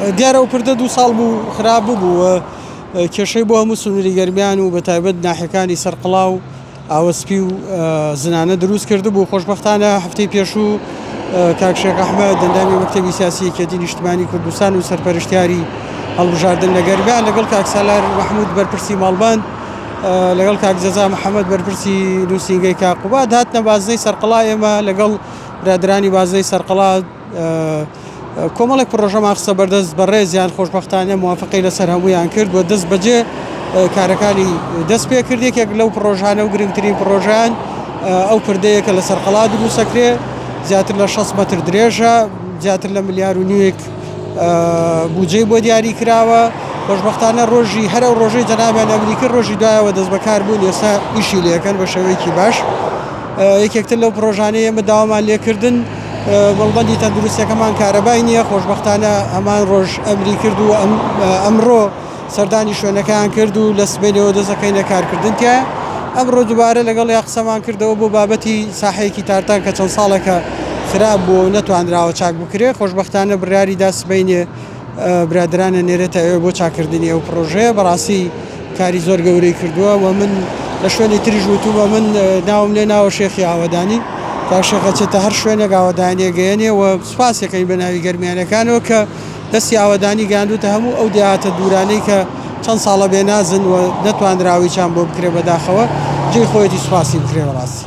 دیارە ئەو پردە دوو ساڵ بوو خراپ ببوو و کێشەی بۆ هەموو سنووری گەرمیان و بەتایبەت ناحیەکانی سەرقڵا و ئاوەسپی و زنانە دروست کرد بوو خۆشببختانە هەفتەی پێشوو کاک شێخ ئەحمە دەندامی مەکتتەبی سیاسی یەکێتی نیشتمانی کوردستان و سەرپەرشتیاری هەڵبژاردن لە گەرمیان لەگەڵ کاک سالار مححمود بەرپرسی ماڵبند لەگەڵ کاک جەزا محەممەد بەرپرسی نووسنگەی کاقوبات هاتنە بازنەی سەرقڵا ئێمە لەگەڵ برادرانی بازنەی سەرقڵات کۆمەڵێک پڕۆژەمان خستە بەردەست بەڕێزیان، خۆشبەختانە موافقەی لەسەر هەموویان کرد و دەستبەجێ کارەکانی دەست پێ کرد. یەکێک لەو پڕۆژانە و گرنگترین پڕۆژەیان ئەو پردەیە کە لەسەر قەڵا دروستەکرێ، زیاتر لە شەست مەتر درێژە، زیاتر لە ملیار و نیوێک بودجەی بۆ دیاری کراوە. خۆشبەختانە ڕۆژی هەر ئەو ڕۆژەی جەنابیان ئەمری کرد، ڕۆژی دوایەوە دەستبەکار بوون، ئێستا ئیشی لێ دەکەن بە شێوەیەکی باش. یەکێکتر لەو پڕۆژانەی ئێمە داوامان لێ کردن، مەڵبەندی تەندروستیەکەمان کارەبای نییە، خۆشبەختانە هەمان ڕۆژ ئەمری کرد و ئەمڕۆ سەردانی شوێنەکەیان کرد و لە سبەینێوە دەستدەکەینە کارکردن تیایا. ئەمڕۆ دووبارە لەگەڵیان قسەمان کردەوە بۆ بابەتی ساحەیەکی تارتان کە چەند ساڵێکە خراپ بووە و نەتوانراوە چاک بکرێت، خۆشبەختانە بڕیاریدا سبەینێ برادەرانە نێرێتە ئێوە بۆ چاکردنی ئەو پڕۆژەیە بەڕاستی کاری زۆر گەورەی کردووە و من لە شوێنی تریش وتووە من ناوم لێ ناوە شێخی ئاوەدانی تا شێخە چێتە هەر شوێنێک ئاوەدانیە گەیەنێ و سوپاسەکەین بە ناوی گەرمیانەکانەوە کە دەستی ئاوەدانی گەاندوتە هەموو ئەو دیاتە دوورانەی کە چەند ساڵە بێ نازن و نەتواندراوی چان بۆ بکرێ بەداخەوە جێ خۆیەتی سوپاسی بکرێ بەڕاستی